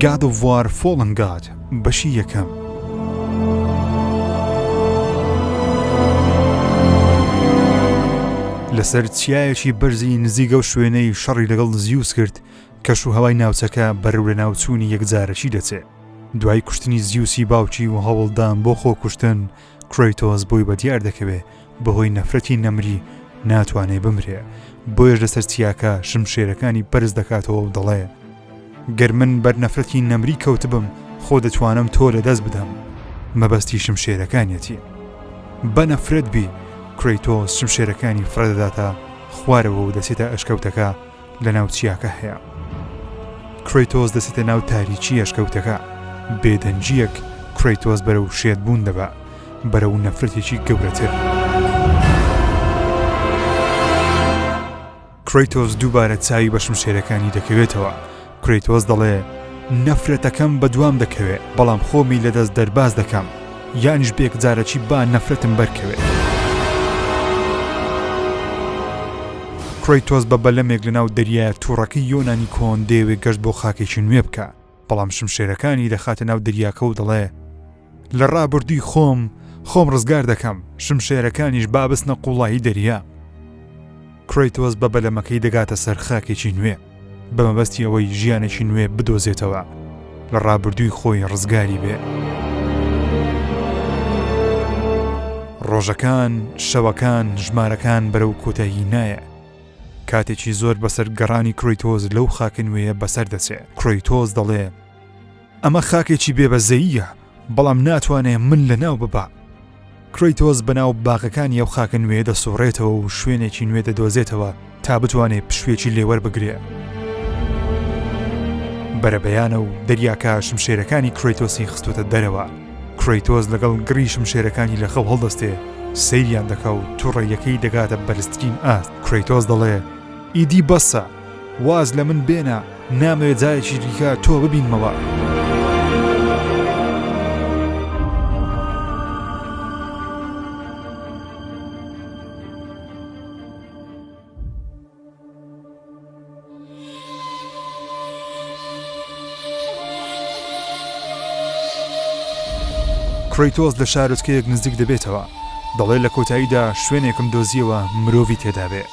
گاد و وار فۆڵن گاد بەشی یەکەم لەسەر چیایەکی بەرزی نزیگە و شوێنەی شەڕی لەگەڵ زیوس کرد کەش و هەوای ناوچەکە بەرەو لە ناوچوونی یەکجارەکی دەچێت دوای کوشتنی زیوسی باوکی و هەوڵدان بۆ خۆکوشتن کرۆیتۆز بۆی بە دیار دەکەوێ بەهۆی نەفرەتی نەمری ناتوانێ بمرێ بۆیش لەسەر چیاکە شمشێرەکانی بەرز دەکاتەوە و دەڵێ گەر من بەر نەفرەتی نەمری کەوتبم خۆ دەتوانم تۆ لە دەست بدەم مەبەستی شمشێرەکانیەتی بە نەفرەت بی کرۆیتۆز شمشێرەکانی فرەدەداتە خوارەوە و دەچێتە ئەشکەوتەکە لەناو چیاکە هەیە کرەیتۆس دەسێتە ناو تاریکی یشکەوتەکە بێدەنجیەک کرەیتۆس بەرەو شێت بوون دەبە بەرەو نەفرەتێکی گەورەتر کرەیتۆس دووبارە چاوی بەشم شێرەکانی دەکەوێتەوە کرەیتۆس دەڵێ نەفرەتەکەم بەدوام دەکەوێ بەڵام خۆمی لەدەست دەرباز دەکەم یانیش بێک جارەکی با نەفرەتم بەرکەوێت. کرۆیتۆس بە بەلەمێک لەناو دەریایە تووڕەکەی یۆنانی کۆن دەیەوێ گەشت بۆ خاکێکی نوێ بکە بەڵام شمشێرەکانی دەخاتە ناو دەریاکە و دەڵێ لە ڕابوردوی خۆم خۆم ڕزگار دەکەم شمشێرەکانیش بابستنە قوڵایی دەریا کرەیتۆس بە بەلەمەکەی دەگاتە سەر خاکێکی نوێ بە مەبەستی ئەوەی ژیانێکی نوێ بدۆزێتەوە لە ڕابردووی خۆی ڕزگاری بێ. ڕۆژەکان شەوەکان ژمارەکان بەرەو کۆتایی نایە کاتێکی زۆر بەسەر گەڕانی کرۆیتۆز لەو خاکن وەیە بەسەر دەچێ کرۆیتۆز دەڵێ ئەمە خاکێکی بێ بەزەییە بەڵام ناتوانێ من لە ناو ببا. کرەیتۆس بەناو باغەکانی ئەو خاکە نوێیە دەسوڕێتەوە و شوێنێکی نوێ دەدۆزێتەوە تا بتوانێ پشوێکی لێ وەربگرێ. بەرەبەیانە و دەریاکە شمشێرەکانی کرەیتۆسی خستوتە دەرەوە. کرەیتۆس لەگەڵ گڕی شمشێرەکانی لە خەو هەڵدەستێ سەیریان دەکا و توڕەیەکەی دەگاتە بەرزترین ئاست. کرەیتۆس دەڵێ ئیدی بەسە. واز لە من بێنە نامەوێ جارێکی دیکە تۆ ببینمەوە. کرەیتۆس لە شارۆچکەیەک نزیک دەبێتەوە دەڵێ لە کۆتاییدا شوێنێکم دۆزیەوە مرۆڤی تێدابێ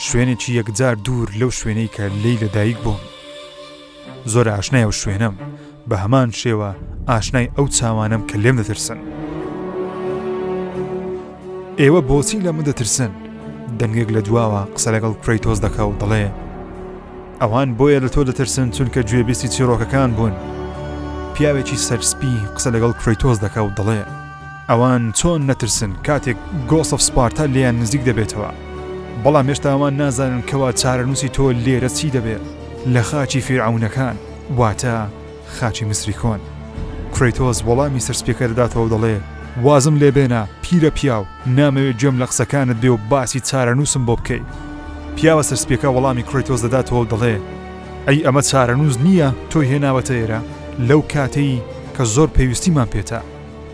شوێنێکی یەکجار دوور لەو شوێنەی کە لێی لەدایک بووم زۆر ئاشنای و شوێنم بە هەمان شێوە ئاشنای ئەو چاوانم کە لێم دەترسن ئێوە بۆچی لە من دەترسن دەنگێک لە دواوە قسە لەگەڵ کرەیتۆز دەکا و دەڵێ ئەوان بۆیە لە تۆ دەترسن چونکە گوێبیستی چیرۆکەکان بوون پیاوێکی سەرسپی قسە لەگەڵ کرەیتۆز دەکا و دەڵێ ئەوان چۆن نەترسن کاتێک گۆس ئەف سپارتا لێیان نزیک دەبێتەوە بەڵام هێشتا ئەوان نازانن کەوا چارەنووسی تۆ لێرە چی دەبێت لە خاچی فیرعەونەکان واتە خاچی میسری کۆن کرەیتۆس وەڵامی سەرسپیەکە دەداتەوە دەڵێ وازم لێ بێنە پیرە پیاو نامەوێت گوێم لە قسەکانت بێ و باسی چارەنووسم بۆ بکەی پیاوە سەرسپیەکە وەڵامی کرەیتۆس دەداتەوە و دەڵێ ئەی ئەمە چارەنووس نییە تۆی هێناوەتە ئێرە لەو کاتەی کە زۆر پێویستیمان پێتە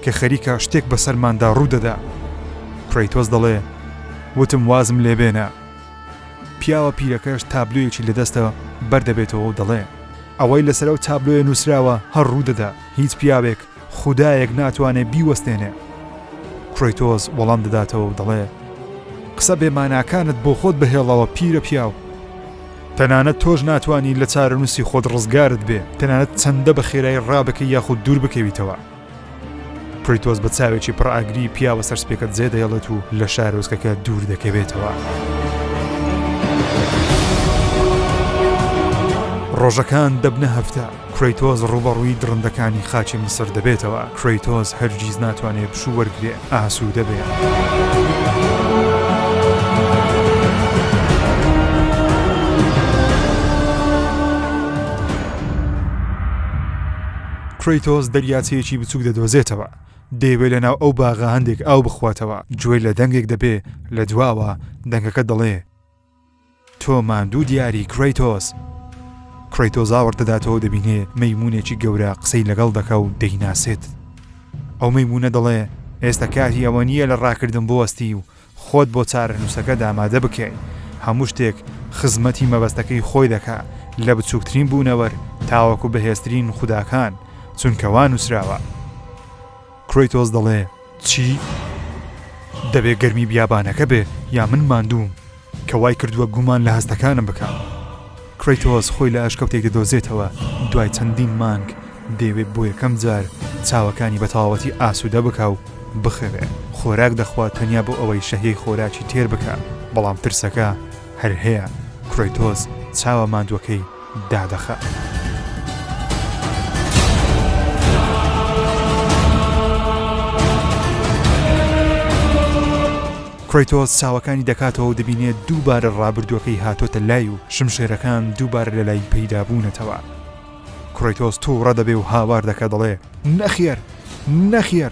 کە خەریکە شتێک بەسەرماندا ڕوودەدا کرەیتۆس دەڵێ وتم وازم لێبێنە پیاوە پیرەکەش تابلویەکی لە دەستە بەردەبێتەوە و دەڵێ ئەوەی لەسەرەو تابلۆیە نووسراوە هەر ڕوودەدا هیچ پیاوێک خودایەک ناتوانێ بیوەستێنێ کرۆیتۆز وەڵام دەداتەوە و دەڵێ قسە بێماناکانت بۆ خۆت بهێڵەوە پیرە پیاو تەنانەت تۆش ناتوانی لە چارەنووسی خۆت ڕزگارت بێ تەنانەت چەندە بە خێرای ڕابکەی یاخود دوور بکەویتەوە پریتۆز بە چاوێکی پڕ ئاگری پیاوە سەرسپێکە جێ دەیڵێت و لە شارۆزکەکە دوور دەکەوێتەوە. ڕۆژەکان دەبنە هەفتە کرەیتۆس ڕووبەڕووی دڕندەکانی خاچی میسر دەبێتەوە، کرەیتۆس هەرگیز ناتوانێ پشوو وەرگرێ، ئاسوودە بێ. کرەیتۆس دەریاچەیەکی بچووک دەدۆزێتەوە، دەیەوێ لەناو ئەو باغە هەندێک ئاو بخواتەوە، گوێ لە دەنگێک دەبێ لە دواوە، دەنگەکە دەڵێ، تۆ ماندوو دیاری کرەیتۆس. کرەیتۆس ئاوڕ دەداتەوە و دەبینێ مەیموونێکی گەورە قسەی لەگەڵ دەکا و دەیناسێت. ئەو مەیموونە دەڵێ، ئێستا کاتی ئەوە نییە لە ڕاکردن بوەستی و خۆت بۆ چارەنووسەکەت ئامادە بکەی. هەموو شتێک خزمەتی مەبەستەکەی خۆی دەکا، لە بچووکترین بوونەوەر تاوەکو بەهێزترین خوداکان، چونکە وا نووسراوە. کرەیتۆس دەڵێ، چی؟ دەبێ گەرمی بیابانەکە بێ یا من ماندووم کە وای کردووە گومان لە هەستەکانم بکەم. کرەیتۆس خۆی لە ئەشکەوتێک دەدۆزێتەوە دوای چەندین مانگ دەیەوێت بۆ یەکەم جار چاوەکانی بە تەواوەتی ئاسوودە بکا و بخەوێ خۆراک دەخوا تەنیا بۆ ئەوەی شەهیەی خۆراکی تێر بکا بەڵام ترسەکە هەر هەیە کرەیتۆس چاوە ماندووەکەی دادەخات. کرەیتۆس چاوەکانی دەکاتەوە و دەبینێت دووبارە ڕابردووەکەی هاتۆتە لای و شمشێرەکان دووبارە لە لای پەیدا بوونەتەوە کرەیتۆس تووڕە دەبێ و هاوار دەکە دەڵێ نەخێر نەخێر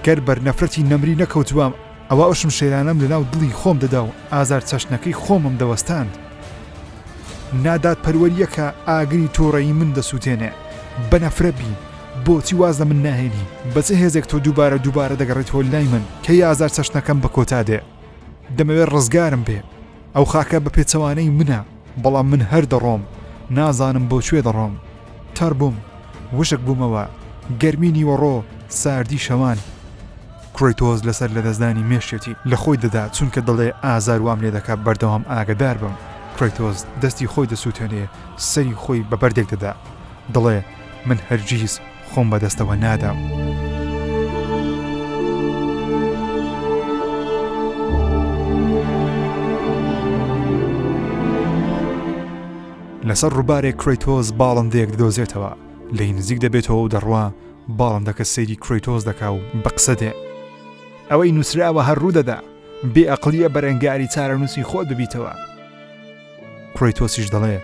گەر بەرنەفرەتی نەمری نەکەوتوام ئەوا ئەو شمشێرانەم لەناو دڵی خۆم دەدا و ئازار چەشنەکەی خۆمم دەوەستاند. نادادپەروەرییەکە ئاگری تووڕەیی من دەسووتێنێ. بە نەفرەت بی، بۆچی واز لە من ناهێنی؟ بە چ هێزێک تۆ دووبارە دووبارە دەگەڕێیتەوە لای من؟ کەی ئازار چەشنەکەم بە کۆتا دێ؟ دەمەوێ ڕزگارم بێ. ئەو خاکە بە پێچەوانەی منە، بەڵام من هەر دەڕۆم، نازانم بۆ کوێ دەڕۆم. تەڕ بووم، وشک بوومەوە، گەرمی نیوەڕۆ، ساردی شەوان. کرەیتۆس لەسەر لەدەستدانی مێشکێتی لە خۆی دەدا چونکە دەڵێ ئازار وام لێ دەکا بەردەوام ئاگەدار بم کرەیتۆس دەستی خۆی دەسووتێنێ سەری خۆی بە بەردێک دەدا دەڵێ من هەرگیز خۆم بەدەستەوە نادەم. لەسەر ڕووبارێک کرەیتۆس باڵندەیەک دۆزێتەوە لێی نزیک دەبێتەوە و دەڕوا باڵندەکە سەیری کرەیتۆس دەکا و بە قسە دێ. ئەوەی نووسراوە هەر ڕوو دەدا. بێ ئەقڵییە بەرەنگاری چارەنووسی خۆت ببیتەوە. کرەیتۆسیش دەڵێ،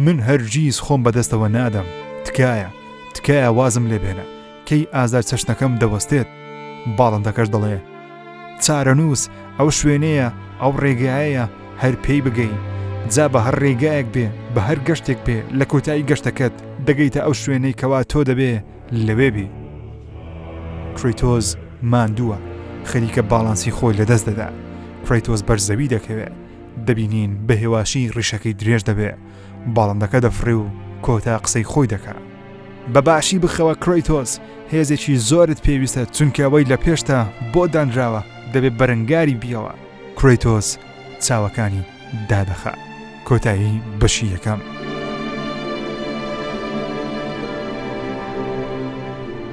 من هەرگیز خۆم بە دەستەوە نادەم، تکایە، تکایە وازم لێ بێنە، کەی ئازار چەشنەکەم دەوەستێت؟ باڵندەکەش دەڵێ. چارەنووس ئەو شوێنەیە ئەو ڕێگایەیە هەر پێی بگەی جا بە هەر ڕێگایەک بێ بە هەر گەشتێک بێ لە کۆتایی گەشتەکەت دەگەیتە ئەو شوێنەی کەوا تۆ دەبێ لەوێ بی کریتۆز ماندووە خەریکە باڵانسی خۆی لەدەست دەدا کریتۆز بەرزەوی دەکەوێ دەبینین بە هێواشی ڕیشەکەی درێژ دەبێ باڵندەکە دەفڕێ و کۆتا قسەی خۆی دەکات بەباشی بخەوە کرۆیتۆس هێزێکی زۆرت پێویستە چونکەوەی لە پێشتا بۆ دانراوە دەبێت بەرەنگاری بیەوە کرۆیتۆس چاوەکانی دادەخە کۆتایی بەشی یەکەم.